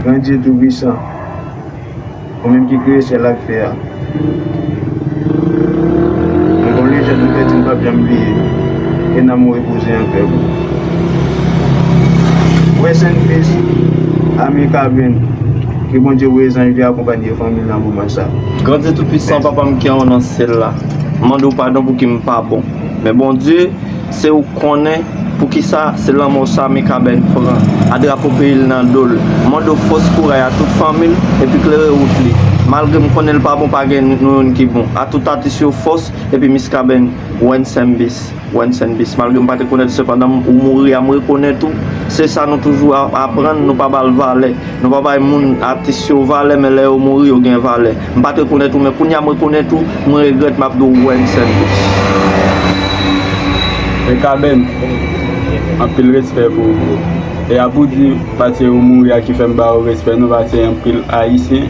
Bondye tou pwisan, ou menm ki kreye syèl ak tè a, mwen konnen jan nou te di nou pap janm bliye ou, ke nanm ou repoze an pè pou ou. Rest in peace Amy Caben, ke Bondye voye zanj li akonpanye fanmi nan moman sa. Grandye tou pwisan papa m kè w nan syèl la. M mande w padon pouki m pa bon Men Bondye se ou k konnen Poukisa se lanmò sa Mikaben pran A drapo peyi l nan do l M mande w fòs kouray a tout fanmi l Epi klere wout li Malgre m konnen l pa bon Pa gen nou youn ki bon A tout atis yo fòs Epi Miskaben Wensembis. Rest in peace malgre m pa te konet sepandan ou mouri a m rekonet ou se sa nou toujou ap aprann nou pa bal valè nou pa bay moun atis yo valè men lè yo mouri yo gen valè m pat rekonet ou men kounya m rekonet ou m regret map di w rest in peace. Mikaben anpil respè pou ou bro e a pou di pase ou mouri a ki fèm ba ou respè nou pase anpil ayisyen.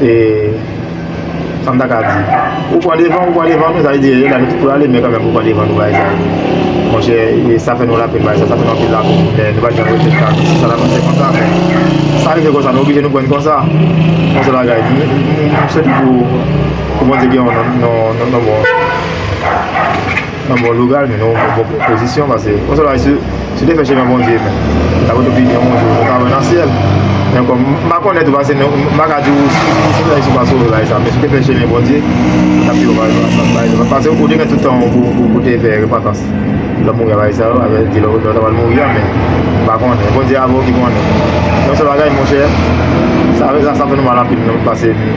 e sa m ta ka di ou pran devan ou pran devan nou sa vle di e gade tout pou ale men kan menm ou pran devan nou bagay sa monchè e sa fè nou la pèn bagay sa sa fè nou anpil la pèn men nou pa t janm regrèt sa si sa ta pase konsa men sa rive konsa nou oblije nou pran konsa yon sèl bagay m swete pou Bondye gen yon nan bon. Mwen bon logal men nou bon pozisyon pase yon sèl bagay si nou te fè chemen Bondye men ta pot opi yon bon jou nou ta wè nan syèl men kòm m pa konnen tou pase nou m pa ka di w si w sove si w pa sove bagay sa men si w te fè chemen Bondye ta pi bon bagay sa bay nou pase ou te gen tout tan w pou te fè repantans lè mouri a bagay sa yo a vè di lè ou ta pral mouri a men m pa konnen Bondye avè w ki konnen yon sèl bagay monchè sa fè nou mal anpil pase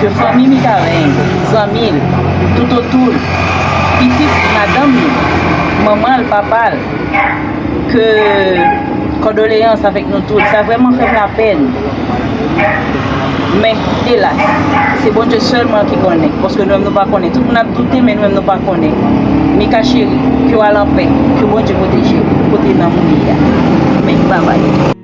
ke fanmi Mikaben, zanmi l, toutotou l, pitit madanm li, manman l, papa l, ke kòdoleyans avèk nou tout, sa vrèman fè m lapèn, men elas, se Bondye sèlman ki konnen, paske nou menm nou pa konnen, tout moun ap doute men nou menm nou pa konnen, Mika cheri, ke w al anpè, ke Bondye pwoteje w kote nanm ou ye a, amen, babay.